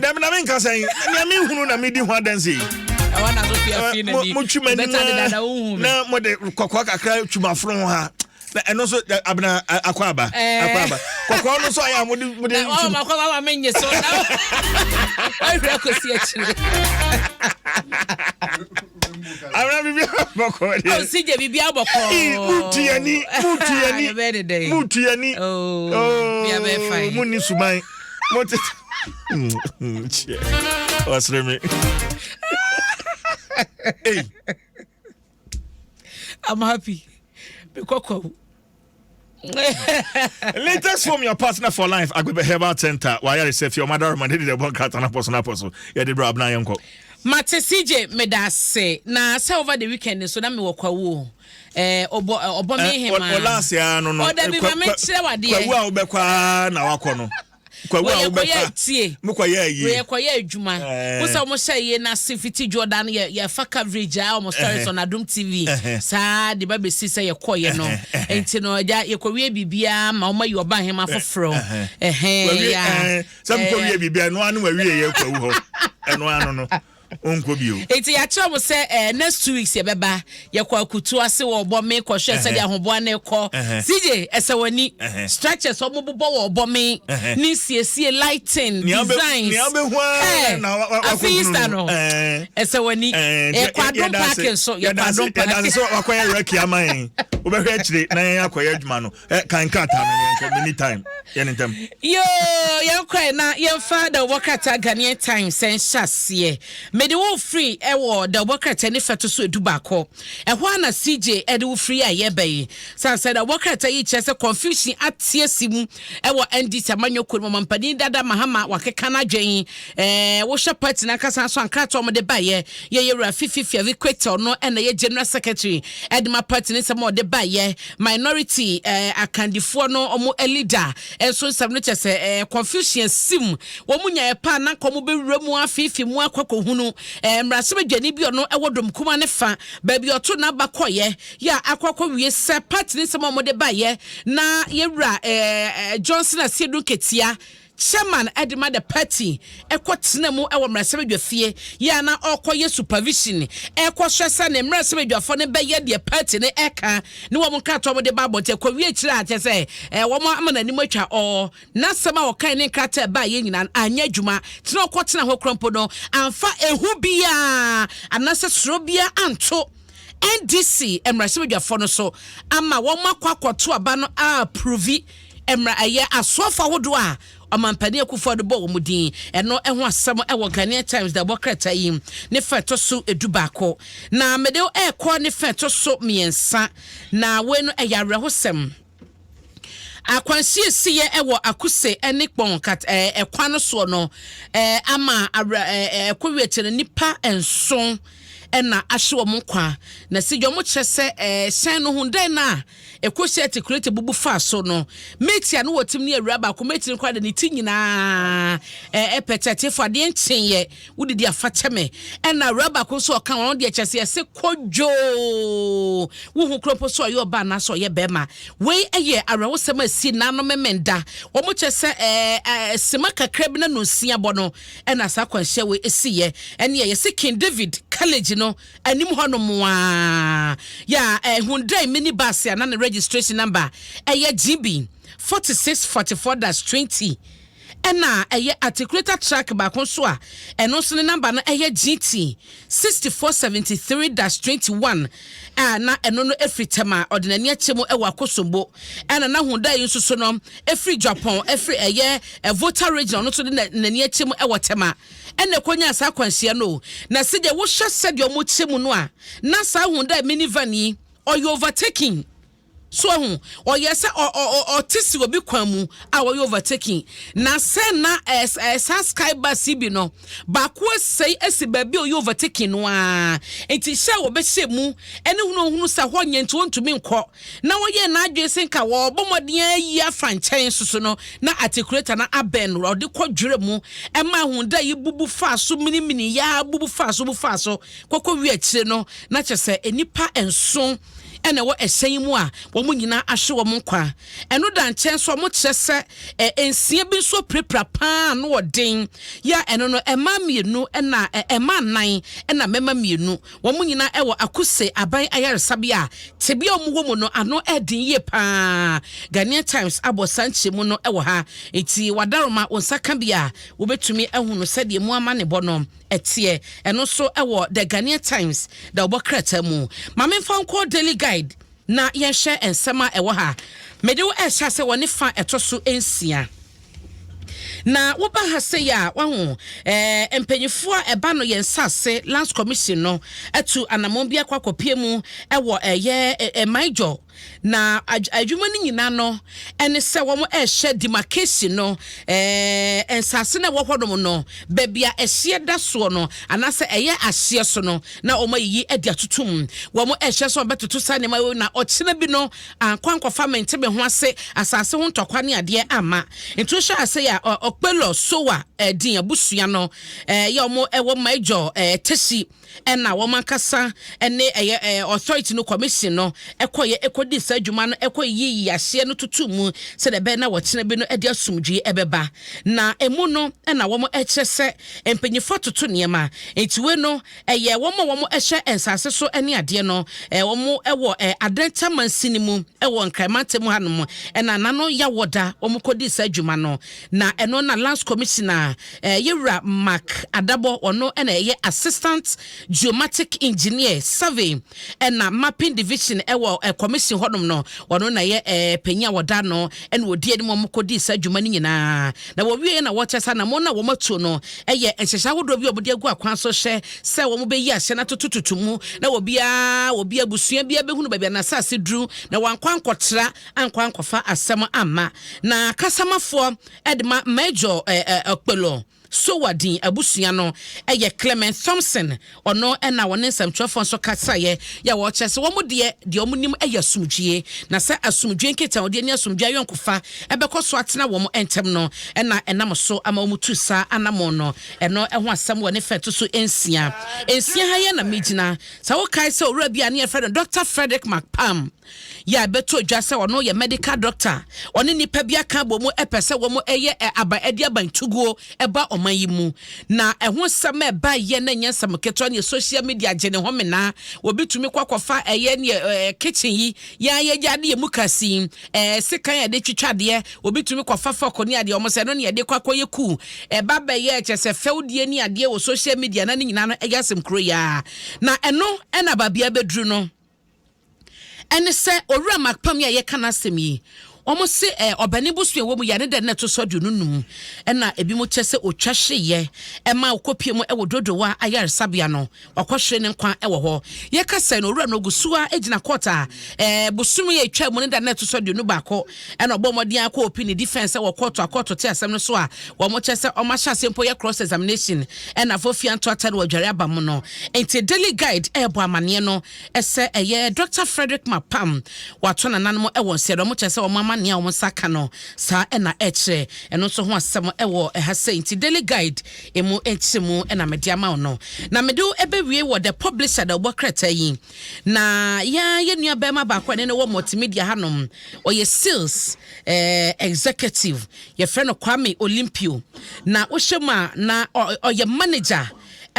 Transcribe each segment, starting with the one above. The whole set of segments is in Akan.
dɛm na menka sɛ nea mehunu na medi ho adanse motwuma nima na mode kɔkɔɔ kakra twumaforo ho ha na ɛno nso abena akɔ aba eh. akɔ aba kɔkɔɔ no nso ayɛ a mode mode ɔma kɔ ma ma menye so na ɔhwerɛ kɔsi akyire Ara bibi abɔkɔ de. Aw si je bibi abɔkɔ. Mutu yani, mutu yani. Bɛ de dɛ. Mutu yani. Oh. Ya bɛ fa. Mu ni suman. Mo te. Chie. Wasre me. Hey. I'm happy. Be kokko. latest from your partner for life agbebe herbal center wayare sɛ fie ɔmada roma ne de ɛbɔ nkrata no apɔ so no apɔ so yɛde berɛ abena yɛnkɔ mate cj meda ase na sɛ over the weekend nso na mewɔ kwawuo eh, ɔbɔ eh, ɔbɔ me eh, hema ɔla ase a no no ɔda bi ma mekyerɛ wadeɛ kwawu a wobɛkɔ a na wakɔ no kwawu a wobɛfa tie mo kɔyɛ yie wɔyɛ kɔyɛ adwuma eh. wosa wɔn hyɛ yie na se fiti jordan yɛ yɛfa coverage a wɔn stories eh. on adum tv eh, saa de ba besi sɛ yɛkɔ yɛ no nti no ɛgya yɛkɔ wie biribiara ma wɔn ayi ɔba ahema foforɔ ɛhɛn ya sɛ mo kɔ wie biribiara ɛno ano ma wie yɛ kwawu hɔ ɛno ano no. ɔnkɔ bio. Eti yɛakyerɛ mo sɛ ɛɛ eh, next two weeks yɛbɛba yɛkɔ akutu ase wɔ ɔbɔ me kɔhwɛ sɛdeɛ ahoboa no kɔ CJ ɛsɛ w'ani structures wɔn bobɔ wɔ ɔbɔ me ne siesie lighting designs ɛɛ afi Easter no ɛsɛ w'ani ɛkɔ adom parking so yɛkɔ adom parking. yɛdaase sɛ wakɔyɛ rɛki ama yɛn wobɛhwɛ akyire na yɛn akɔyɛ adwuma no. Eh, kan krataa no yɛn hwɛ mini time yɛn ne ntɛm. yoo yɛn kɔɛ na yɛn fa dawubɔ krataa ghanaian times sɛn hyɛ aseɛ mede wo firi ɛwɔ dawubɔ krataa ne fɛto so edu baako ɛhɔ a na cj ɛde wo firi a yɛbɛ yi sansan dawubɔ krataa yi kyerɛ sɛ confusion ateɛ si mu ɛwɔ ndc amanyɔ kuro mu mampanin dada mahama wakeka n'adwene yi ɛɛ wohyɛ party n'ankasa so ankrataa wɔn de ba yɛ yɛyɛ wura fifi fiavi kwetɛw no ɛna yɛ general secretary ɛde ma party ne nsɛm a wɔde ba yɛ minority eh, akandifoɔ no ɔmo eh, leader eh, nso nsɛm no kyɛ sɛ eh, confusion sim wɔn mu nyaeɛ paa na nkɔmɔ bɛwura mu afeefe mu akɔkɔhunu eh, mmarahyɛbadwani bi ɔno ɛwɔ dom kuma ne fa baabi ɔto n'aba kɔyɛ yɛ a akɔkɔ wie sɛ party ne nsɛm a wɔde baeɛ na yɛwura eh, eh, Johnson Asiedu Nketia Chairman de ma the party kɔ tena mu wɔ mmarahyɛbadwafie yɛ a na ɔkɔ yɛ supervision ɛkɔ hwɛ sɛ ne mmarahyɛbadwafo no bɛyɛ deɛ party no ɛka ne wɔn nkratoɔ wɔn de ba abɔnten ɛkɔ wie akyire a kyɛ sɛ ɛɛ wɔn ama n'anim atwa ɔɔ n'asɛm a ɔkan ne nkrataa ɛbaa yɛ nyinaa anyɛ adwuma tena ɔkɔ tena hɔ kora mpo no amfa ehu biara anasɛ soro biara anto NDC mmarahyɛbadwafoɔ no so ama wɔn akɔ akɔto aba no a aprovi mmara ɛyɛ asoɔfo ahodoɔ a ɔmampanin akufo de bɔ wɔn din ɛno ɛho asɛm ɛwɔ Ghanaian Times da ɛbɔ krataa yi ne fɛ ɛtɔ so edu baako na mede ɛrekɔ ne fɛ ɛtɔ so mmiɛnsa na wei no ɛyɛ awerɛhosɛm. Akwansiesiiɛ wɔ Akuse ne Kpong kat ɛɛ kwan no soɔ no ɛɛ ama awerɛ ɛɛ ɛkɔ wie akyire no nnipa nson ɛna ahye wɔn nkwa. Na sɛ deɛ wɔkyerɛ sɛ ɛɛ hyɛn no ho dɛn no a ɛkɔsi atikuleta bubu faa so no, mate a na wɔtim ne awura baako mate no koraa de ne ti nyinaa ɛɛ ɛpɛtɛtefoɔ adeɛ nkyeeɛ. Wodidi a fa kyɛ me. Ɛna awuraa baako nso ɔka wɔn deɛ kyɛ sɛ ɛse kodwoo. Wo ho kuro mpo so ɔyɛ ɔbaa anaasɛ ɔyɛ bɛrima. Wei ɛyɛ awerɛhosɛm a ɛsi nna no memenda. Wɔn kyɛ sɛ ɛɛ sima kakra bi na no nsia bɔ no ɛna saa akwanhyia wei ɛsi yɛ. Ɛne ɛyɛ se King David college no anim hɔ no mo aa. Ya ɛɛ Hyundai mini bus a na ne registration number ɛyɛ GB 4644-20. Ɛna a ɛyɛ articulator track baako nso a ɛno nso ne number no yɛ GT sixty four seventy three dash twenty one a na ɛno no firi Tɛm a ɔde n'ani akyɛ mu wɔ Akosombo. Ɛna na Honda yi nso so no firi Dwapɔn firi ɛyɛ Volta Region ɔno nso de na n'ani akyɛ mu wɔ Tɛm a ɛna ɛkɔnyaa saa akwanhyia no o. Na sɛdeɛ wohwɛ sɛdeɛ wɔkyɛ mu no a na saa Honda mini van yi ɔyɛ overtaking So wahu? Ɔyɛ sɛ ɔ ɔ ɔ ɔte si obi kwan mu a wɔyɛ overtaking. Na sɛ na ɛs ɛɛ saa sky bus yi bi no baako asɛe asi baabi a ɔyɛ overtaking no ara nti hyɛ a wɔbɛhyɛ mu ɛne hunu ohunu sɛ hɔ nyɛ nti wɔntumi nkɔ na wɔyɛ n'adwene sɛ nka wɔbɔ mmɔden ayi afa nkyɛn nso so no na articulator no abɛn no ɔde kɔ dwerɛ mu ɛma ahu dɛ yi bubu faa so minimini yaa bubu faa so bubu faa so kɔkɔ wi akyire no na kyɛ sɛ nnipa nson na ɛwɔ ɛhyɛn yi mu a wɔn nyinaa ahwe wɔn nkwa. Ɛno da nkyɛn nso a, wɔkyerɛ sɛ ɛ, nsia bi nso apirapira paa ano wɔ den, yɛ a ɛno no, mmaa mmienu na ɛ, mmaa nnan na mmarima mmienu. Wɔn nyinaa wɔ Akuse Aban Ayaresabea a tebea a wɔwɔ mu no, ano yɛ den yie paa. Ghanaian Times abɔ saa nkyerɛmu no wɔ ha. Enti, w'adaroma, wo nsa ka bi a, wobɛtumi ahunu sɛdeɛ emu amanebɔ no. ɛteɛ, ɛno nso wɔ The Ghanaian Times dawɔbɔ krataa mu. Ma memfa wo nkɔ Daily Guide na yɛnhwɛ nsɛm a ɛwɔ ha. Mede wo rehyɛ ase wɔ ne fa ɛtɔ so nsia. Na woba ha sei a, wahu eh, mpanyinfoɔ a ɛba no yɛn nsase Lands Commission no atu anammɔn bi akɔ akɔpie mu wɔ ɛyɛ eh, eh, eh, Maijo Na adwuma no nyina no ne sɛ wɔn ɛrehyɛ demarcation no, ɛɛ nsaase na ɛwɔ hɔnom no, baabi a ɛhyeɛ da soɔ no, anaasɛ ɛyɛ ahyeɛ so no, na wɔn ayiyi de atoto mu. Wɔn ɛrehyɛ sɛ wɔbɛtoto saa nneɛma wei na ɔkyena bi no ankɔ ankɔfa mente me ho ase asaase ho ntɔkwa ne adeɛ amma. Nti wohyɛ ase yɛ a Okpelo Sowa ɛɛ din abusua no ɛɛ yɛ wɔn ɛwɔ Major ɛɛ Teshie. ɛna wɔn ankasa ne ɛyɛ ɛɛ authority no commission no ɛkɔyɛ ɛkɔdi saa adwuma no ɛkɔyi yi ahyeɛ no tutu mu sɛdeɛ ɛbɛyɛ na wɔkyena bi no ɛde asomdwie ɛbɛba na ɛmu no ɛna wɔn ɛkyerɛ sɛ mpanyinfoɔ atoto nneɛma nti wei no ɛyɛ wɔn a wɔn ɛhyɛ nsaase so ɛne adeɛ no ɛɛ wɔn ɛwɔ ɛɛ adanta mansin no mu ɛwɔ nkran mantam hanom ɛna nano yawɔ da wɔn kɔdi saa adwuma no na ɛno na lands commissioner Eh, yɛ wura Mark Adabɔ, ɔno na ɛyɛ Assistant Geomatic Engineer, Survey ɛna Mapping Division ɛwɔ eh, Commission hɔnom no, ɔno na ɛyɛ eh, panyin a wɔda no ɛna ɔdi anim a wɔkɔdii saa adwuma no nyinaa. Na wɔwie na wɔkyɛ sɛ anamɔ no a wɔatuo no ɛyɛ nhyehyɛ ahodoɔ bi a wɔde agu akwan so hyɛ sɛ wɔbɛyi ahyɛ no atotototo mu na wɔbiara obi abusua biara bɛhunu baabi a n'asase duru na wɔankɔ ankɔtra ankɔ ankɔfa asɛm amma na kasamafoɔ de ma Major Okpelo Sowodin abusua no yɛ Clement Thompson, ɔno na wɔne nsɛmtwerɛfoɔ nso kasaeɛ yɛ wɔkyerɛ sɛ wɔn deɛ deɛ wɔn nim yɛ asomdwie na sɛ asomdwie nkitahodie ne asomdwie ayɔnkofa ɛbɛkɔ so atena wɔn ntam no na ɛnam so ama wɔn tu saa anamɔn no ɛno ɛho asɛm wɔ ne fɛ to so nsia nsia ha yɛ na megyina sɛ wokae sɛ owura bi a ne yɛfrɛ no Dr. Frederick McPalm Yɛ a ɛbɛto dwa sɛ ɔno yɛ medical doctor a ɔne nnipa bi aka abɔ mu pɛ sɛ wɔn yɛ aba ɛde aba ntuguo ɛba ɔman yi mu na ɛho nsɛm a ɛba yɛ na nyɛ nsɛm ketewa ne social media gye ne ho menaa obi tumi kɔ akɔfa ɛyɛ ne ɛɛ kitchen yi yɛn ayɛgya de yɛ mu kasi ɛɛ sekan a yɛde twitwa adeɛ obi tumi kɔfa fɔko ne adeɛ wɔn sɛ ɛno ne yɛde kɔ akɔyɛ kuu ɛba bɛyɛ ɛkyɛ sɛ fɛwdie ne adeɛ wɔ social media na ne nyinaa no ɛyɛ asɛm kuro yɛ na ɛno ɛna babea bɛduru no. ɛne sɛ Owura Makpam yi a yɛka n'asɛm yi, wɔse eh, ɔbɛne bosoa ɛwɔ mu yɛ ne dɛ na ɛto so aduonu num ɛna ebi mo kyɛ sɛ otwa hyeeɛ ɛma okɔpie mu ɛwɔ Dodowa ayaresabea no wakɔhwere ne nkwa ɛwɔ hɔ. Yɛkasa yi no Owura no ogu so ara gyina kɔɔt a eh, bosome a etwa mu ne da na ɛto so aduonu baako Ɛna ɔbɔɔ mmɔden ara kɔɔ Pini defense sɛ wɔ kɔɔto a kɔɔto te asɛm no so a wɔkyerɛ sɛ ɔma hyɛ aseɛ mpo yɛ cross examination ɛna fo fia nto atare wɔ adware aba mu no nti Daily Guide ɛɛbɔ amaneɛ no sɛ ɛyɛ Doctor Frederick Mapam wato nananom ɛwɔ nsɛɛ na wɔkyerɛ sɛ wɔn ama nea wɔn nsa ka no saa ɛna ɛkyerɛ ɛno nso ho asɛm ɛwɔ ɛha sɛ nti Daily Guide emu nkyerɛmu ɛna mede ama wo no na mede wo ɛbɛwie wɔ the publisher da wobɔ krataa yi Na yɛn ara yɛn nua barima baako a ɛne no wɔ multimedia hanom, ɔyɛ sales eh, executive, yɛfrɛ no Kwame Olympio. Na wohyɛ mu a, na ɔyɛ manager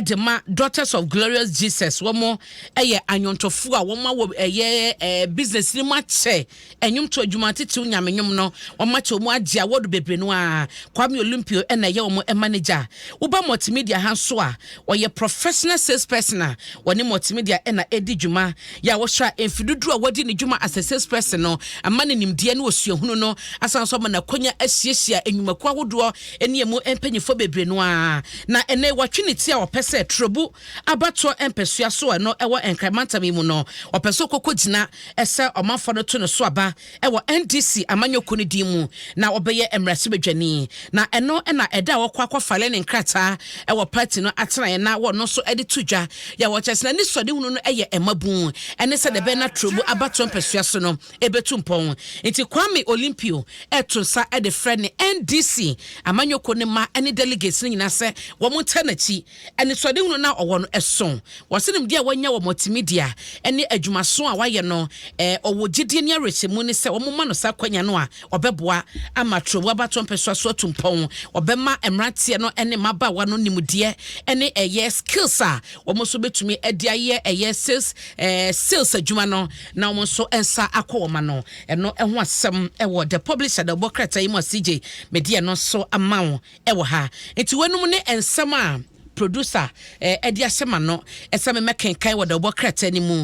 de ma Daughters of Glorious Jesus. Wɔn yɛ anwontofoɔ a wɔn awɔ ɛyɛ eh, business no mu akyɛ. Nnwomto adwuma titiriw Nyame nnwom no, wɔma kyɛw mu agye awɔdo bebree no ara. Kwame Olympio na ɛyɛ wɔn manegya. Woba Multimedia ha nso a, ɔyɛ professional salesperson a wɔne Multimedia na ɛredi dwuma. Yɛ a wɔhyira mfe dodow a wadi ne dwuma as a salesperson no ma ne nimdeɛ ne osuahunu no asan nso ama no akwanya ahyiahyia nnwumakuw ahodoɔ ne emu mpanyimfoɔ bebree no ara na ɛnnɛ wɔatwe ne ti a ɔpɛ sɛ Turobu abatoɔ mpɛsoa so a ɛno ɛwɔ Nkran mantam yi mu no, ɔpɛ sɛ ɔkɔkɔgyina sɛ ɔmanfoɔ no to ne so aba wɔ NDC amanyɔkuo no din mu na ɔbɛyɛ mmarahyɛbadwani. Na ɛno na ɛda a ɔkɔ akɔfale ne nkrataa wɔ party no atenaeɛ na ɔno nso de to dwa yɛ a ɔkyerɛ sɛ n'anisɔdehunu no yɛ mmabun ne sɛdeɛ ɛbɛyɛ na Turobu abatoɔ mpɛsoa so no ɛbɛtu mpɔn. Nti Kwame Olympio reto nsa de frɛ ne NDC amanyɔkuo no mma ne delegates no nyinaa sɛ wɔntena n'akyi Anisoadehunu no a ɔwɔ no, ɛso. Wɔse nimdeɛ a wanya wɔ multimedia ne adwumaso a wayɛ no, ɔwɔ gyedie ne awerɛhyɛmu ne sɛ wɔma no saa akwanya no a, ɔbɛboa ama Trɔbu abatoɔ mpɛsoa so atu mpɔn. Ɔbɛma mmeranteɛ no ne mmabaawa no nimdeɛ ne ɛyɛ skills a wɔn nso bɛtumi de ayɛ ɛyɛ sales sales adwuma no na wɔn nso nsa akɔ wɔn ano. Ɛno ho asɛm wɔ The Publisher na ɛbɔ krataa yi mu a CJ mede ɛno nso ama wo. wɔ ha. Nti weinom ne nsɛm a producer de ahyɛ m'ano sɛ memmɛkenkan wɔ dawubɔ krataa no mu.